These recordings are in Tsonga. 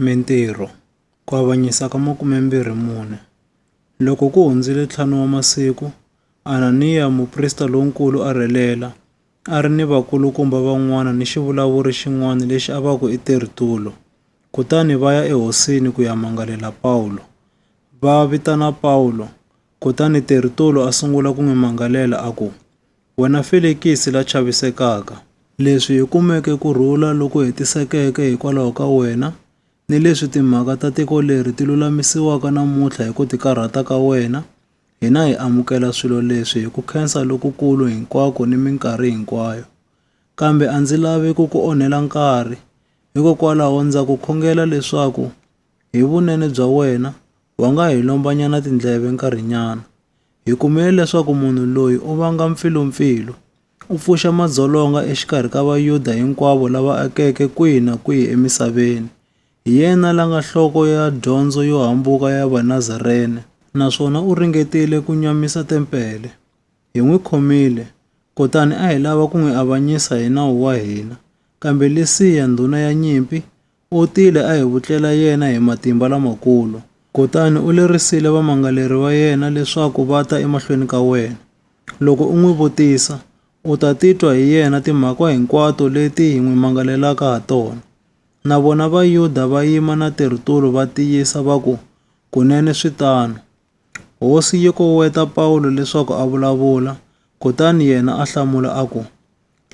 Mintirho, Ku avanyisa ka makume-mbirhi-mune. Loko ku hundzile ntlhanu wa masiku, Ananiya muprista lonkulu a rhelela, a ri ni vakulukumba van'wana ni xivulavuri xin'wana lexi a va ku i Tertulo. Kutani va ya ehosini ku ya mangalela Pawulo. Va vitana Pawulo, kutani Tertulo a sungula ku n'wi mangalela a ku, Wena Felikisi la chavisekaka, leswi hi kumeke ku rhula loku hetisekeke hikwalaho ka wena, ni leswi timhaka ta tiko leri ti lulamisiwaka namuntlha hi ku tikarhata ka wena, hina hi amukela swilo leswi hi ku khensa lokukulu hinkwako ni minkarhi hinkwayo. Kambe a ndzi lavi ku ku onhela nkarhi, hikokwalaho ndza ku khongela leswaku hi vunene bya wena wa nga hi lombanyana tindleve nkarhinyana, Hi kumile leswaku munhu loyi u vanga mpfilumpfilu, u pfuxa madzolonga exikarhi ka Vayuda hinkwavo lava akeke kwihi na kwihi emisaveni. Hi yena la nga nhloko ya dyondzo yo hambuka ya Vanazarene, naswona u ringetile ku nyamisa tempele. Hi n'wi khomile, kutani a hi lava ku n'wi avanyisa hi nawu wa hina. Kambe Lisiya, ndhuna ya nyimpi, U tile a hi vutlela yena hi matimba lamakulu, kutani u lerisile vamangaleri va yena leswaku va ta emahlweni ka wena. Loko u n'wi vutisa, u ta titwa hi yena timhaka hinkwato leti hi n'wi mangalelaka ha tona. Na vona Vayuda va yima na tirtulu va tiyisa va ku, Kunene swi tano. Hosi yi koweta Pawulo leswaku a vulavula, kutani yena a hlamula a ku,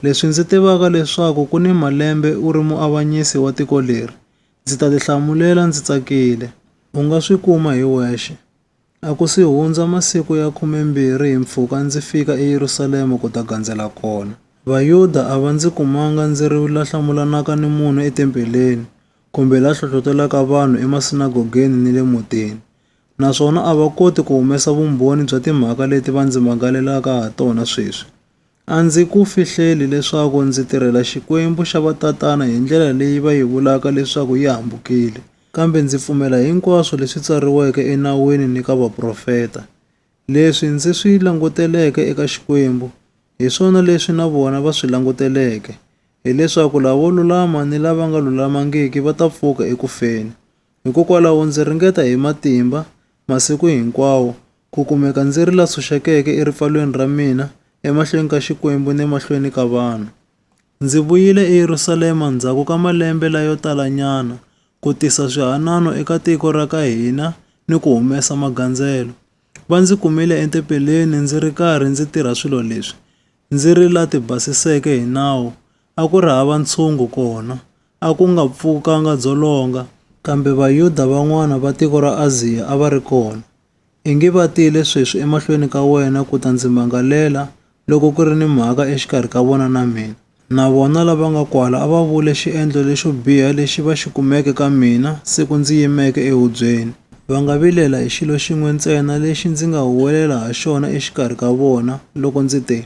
Leswi ndzi tivaka leswaku ku ni malembe u ri muavanyisi wa tiko leri, ndzi ta tihlamulela ndzi tsakile. U nga swi kuma hi wexe. A ku si hundza masiku ya khumembirhi hi mpfhuka ndzi fika eYerusalema ku ta gandzela kona. Vayuda a va ndzi kumanga ndzi ri la hlamulanaka ni munhu etempeleni, kumbe la hlohlotelaka vanhu emasinagogeni ni le mutini. naswona a va koti ku humesa vumbhoni bya timhaka leti va ndzi mangalelaka ha tona sweswi. A ndzi ku fihleli leswaku ndzi tirhela Xikwembu xa vatatana hi ndlela leyi va yi vulaka leswaku yi hambukile, kambe ndzi pfumela hinkwaswo leswi tsariweke eNawini ni ka vaprofeta. Leswi ndzi swi languteleke eka Xikwembu, hi swona leswi na vona va swi languteleke, hileswaku lavo lulama ni lava nga lulamangiki va ta pfuka eku feni. Hikokwalaho ndzi ringeta hi matimba masiku hinkwawo ku kumeka ndzi ri la tshunxekeke eripfalweni ra mina emahlweni ka Xikwembu ni emahlweni ka vanhu. Ndzi vuyile eYerusalema ndzhaku ka malembe layo talanyana ku tisa swihanano eka tiko ra ka hina ni ku humesa magandzelo. Va ndzi kumile etempeleni ndzi ri karhi ndzi tirha swilo leswi, ndzi ri la tibasiseke hi nawu a ku ri hava ntshungu kona, a ku nga pfukanga dzolonga, kambe Vayuda van'wana va tiko ra Aziya a va ri kona. I ngi va tile sweswi emahlweni ka wena ku ta ndzi mangalela, loko ku ri ni mhaka exikarhi ka vona na mina. Na vona lava nga kwala a va vule xiendlo lexo biha lexi va xi kumeke ka mina siku ndzi yimeke ehubyeni, va nga vilela hi xilo xin'we ntsena lexi ndzi nga huwelela ha xona exikarhi ka vona, loko ndzi te,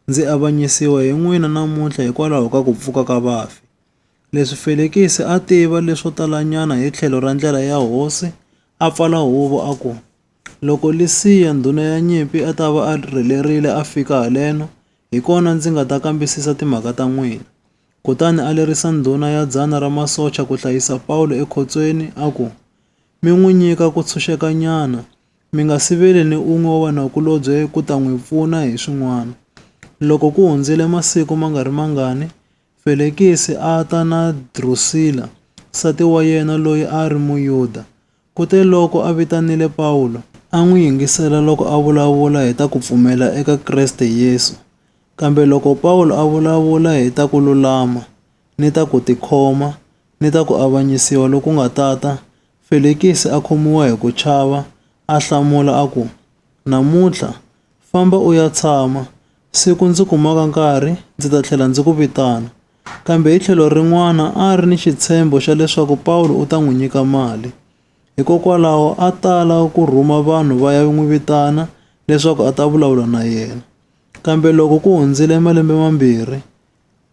Ndzi avanyisiwa hi n'wina namuntlha hikwalaho ka ku pfuka ka vafi. Leswi Felikisi a tiva leswo talanyana hi tlhelo ra ndlela ya hosi, a pfala huvo a ku, Loko Lisiya ndhuna ya nyimpi a ta va a rhelerile a fika haleno, hi kona ndzi nga ta kambisisa timhaka ta n'wina. Kutani a lerisa ndhuna ya dzana ra masocha ku hlayisa Pawulo ekhotsweni, a ku, mi n'wi nyika ku tshunxekanyana, mi nga siveli ni un'we wa vanakulobye ku ta n'wi pfuna hi swin'wana. Loko ku hundzile masiku ma nga ri mangani, Felekisi a ta na Drusila, nsati wa yena loyi a ri Muyuda. Kuteloko a vitanile Pawulo, a n'wi yingisela loko a vulavula hi ta ku pfumela eka Kreste Yesu, kambe loko Pawulo a vulavula hi ta ku lulama ni ta ku tikhoma, ni ta ku avanyisiwa loku nga tata, Felikisi a khomiwa hi ku chava, a hlamula a ku, Namuntlha, famba u ya tshama, siku ndzi kumaka nkarhi ndzi ta tlhela ndzi ku vitana. Kambe hi tlhelo rin'wana a a ri ni xitshembo xa leswaku Pawulo u ta n'wi nyika mali. Hikokwalaho a tala ku rhuma vanhu va ya n'wi vitana leswaku a ta vulavula na yena. Kambe loko ku hundzile malembe mambirhi,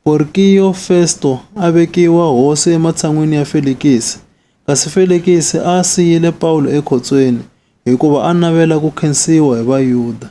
Porkiyo Festo a vekiwa hosi ematshan'wini ya Felikisi, kasi Felikisi a siyile Pawulo ekhotsweni hikuva a navela ku khensiwa hi Vayuda.